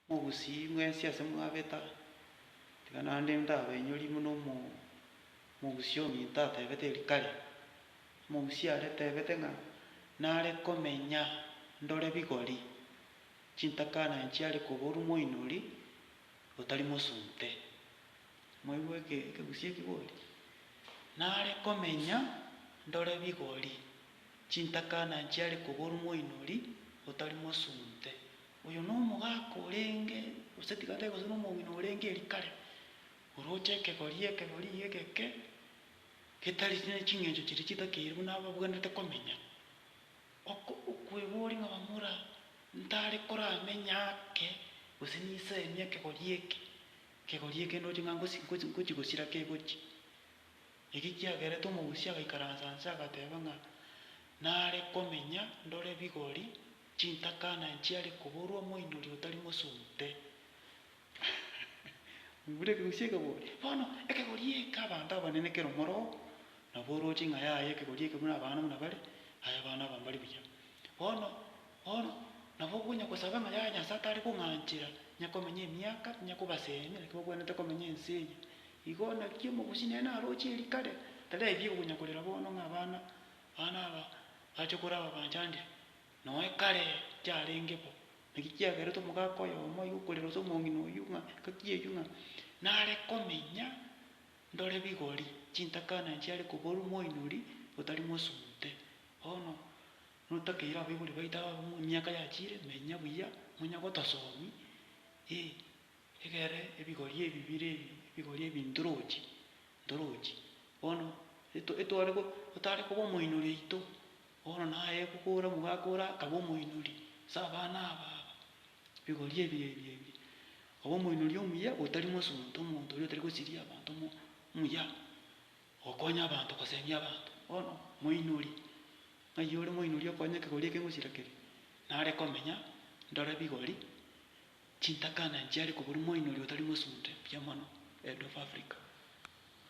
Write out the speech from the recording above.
Mogusii mwensi ase mwabeta, tiga naende ndabainyorie buna omo mogusii ominto atebete erio kare. Mogusii aretebete ng'a nare komenya ndore bigori, chintakana nchiare koborwa moinori otari mosunte. Mwaigwa eke ekegusii ekigori? Nare komenya ndore bigori. Chintakana nchiare koborwa moinori otari mosunte. Oyo nomogaka orenge, gose tiga tari gose nomong'ina orenge eri kare, oroche ekegori, ekegori egeke, getari neching'encho chiria chitakeire buna ababwenerete komenya. Oko okweboria ng'a bamura ntare koramenye ake, gose nisemie ekegori eke, ekegori eke ndoche ng'a ngosi ngochi gosira kegochi. Eki kiagerete omogusii agaikaransa nse agateeba ng'a nare komenya ndore bigori, chintaka na nchiari koborwa moinyori otari mosunte. Moigure ekegusii ekebori. Bono ekegori eke abanto abanene kero moroo nabo oroche ing'a yaye ekegori eke buna abana buna bare, aye abana aba mbari buya. Bono. Bono nabo konya gosaba ng'a yaya Nyasae tare kong'anchera, inya komenya emiaka, inya kobaseemia, naki bakwenerete komenya ense eye. Igo naki omogusi nere naroche eeri kare, taraebia konya korera bono ng'a abana bane aba bache korwa ababachandire, noe kare chiarenge bo. Naki kiagerete omogaka oyomo igo korera gose omong'ina oyio ng'a engaki eyio ng'a nare komenya ndore bigori, chintakana chiare koborwa moinori otari mosunte. Bono. Notakeire abaibori baito aba b'emiaka yachiire, menya buya, nonya gotasomi, ee, egere ebigori ebi bire ebi, ebigori ebi ntorochi, ntorochi. Bono eto etware go otare koba omoinori oito, bono naye gokora nigo akora akaba omoinori ase abana aba aba, ebigori ebi ebi ebi. Obe omoinori omuya otari mosunte, omonto oria otari gosiria abanto omo omuya. Gokonya abanto gosemia abanto. Bono moinori, ng'ai ore moinori okonya ekegori eke ngosira keria? Nare komenya ndore bigori chintakana nchiare koboria moinori otari mosunte mbuya mono Head of Africa.